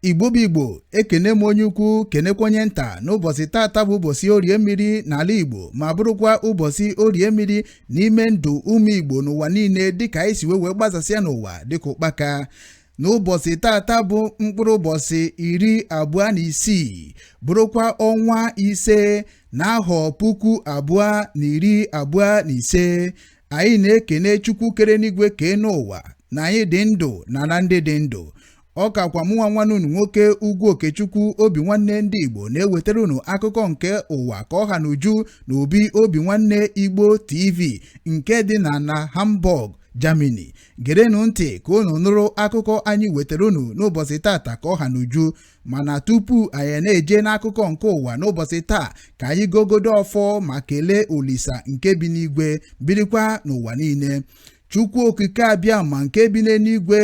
igbo bụ igbo ekene m onye ukwu kenekwa onye nta n'ụbọchị tata bụ ụbọchị orie mmiri n'ala igbo ma bụrụkwa ụbọchị orie mmiri n'ime ndụ ụmụ igbo n'ụwa niile dịka anyị si wee wee gbasasịa n'ụwa dịka ụkpaka n'ụbọchị tata bụ mkpụrụ ụbọchị iri abụọ na isii bụrụkwa ọnwa ise n'ahọ puku abụọ na iri abụọ na ise anyị na-ekene Chukwu kere enuigwe kee enu ụwa na anyị dị ndụ n'ala ndị dị ndụ ọ kakwa mụnwa nwanne unu nwoke ugwu okechukwu obinwanne ndị igbo na-ewetara unu akụkọ nke ụwa ka ọ ha n'uju na obi obinwanne igbo tv nke dị na na hamburg germany gerenụ ntị ka unu nụrụ akụkọ anyị wetara unu n'ụbọchị tata ka ọ ha n'uju mana tupu anyị na-eje n'akụkọ nke ụwa n'ụbọchị taa ka anyị gọgodo ọfọ ma kelee olisa nke bi n'igwe birikwa n'ụwa niile chukwu okike abịama nke bi n'eluigwe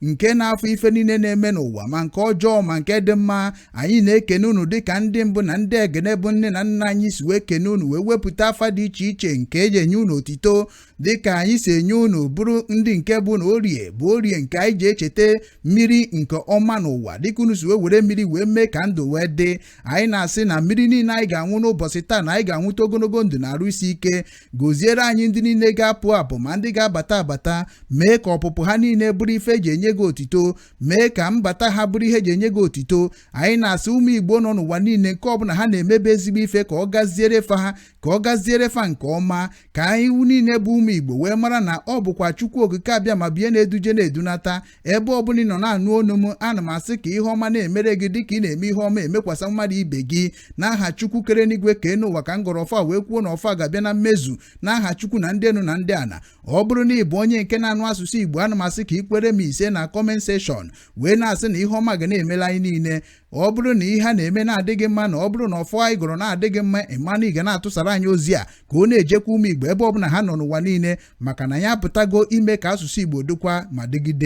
nke na-afụ ife niile na-eme n'ụwa ma nke ọjọọ ma nke dị mma anyị na-ekene unu dịka ndị mbụ na ndị egene bụ nne na nna anyị si wee kene unu wee wepụta afa dị iche iche nke eji enye unu otito dị ka anyị si enye unu bụrụ ndị nke bụ na orie bụ orie nke anyị ji echeta mmiri nke ọma n'ụwa dịka unu si wee were mmiri wee mee ka ndụ wee dị anyị na-asị na mmiri niile anyị ga-aṅụ n'ụbọchị taa na anyị ga-aṅụta ogologo ndụ na arụ isi ike goziere anyị ndị niile ga-apụ apụ ma ndị ga-abata abata mee ka ọpụpụ ha niile bụrụ ife eji enye gị otito mee ka mbata ha bụrụ ihe eji enye gị otito anyị na-asị ụmụ igbo nọ n'ụwa niile nke ọbụla ha na-emebe ezigbo ife ka ọ gaziere fa ha ka ọ gaziere fa nke ọma ka anyị niile bụ ụmụ Igbo wee mara na ọ bụkwa Chukwu Okike Abịama bụ ya na-eduje na-edunata ebe ọ bụla ị nọ na-anụ onu m ana m asị ka ihe ọma na-emere gị dịka ị na-eme ihe ọma emekwasa mmadụ ibe gị n'aha Chukwu kere enuigwe kee enu ụwa ka m gọrọ ọfọ a wee kwuo na ọfọ a ga-abịa na mmezu n'aha Chukwu na ndị enu na ndị ana ọ bụrụ na ị bụ onye nke na-anụ asụsụ Igbo ana m asị ka ị kwere m ise na comment section wee na-asị na ihe ọma ga na-emela anyị niile ọ bụrụ na ihe a na-eme na-adị gị mma na ọ bụrụ na ọfọ anyị gọrọ na-adị gị mma ị ma na ị ga na-atụsara anyị ozi a ka ọ na-ejekwu ụmụ Igbo ebe ọbụla ha nọ n'ụwa niile maka na ya apụtago ime ka asụsụ Igbo dịkwa ma dịgide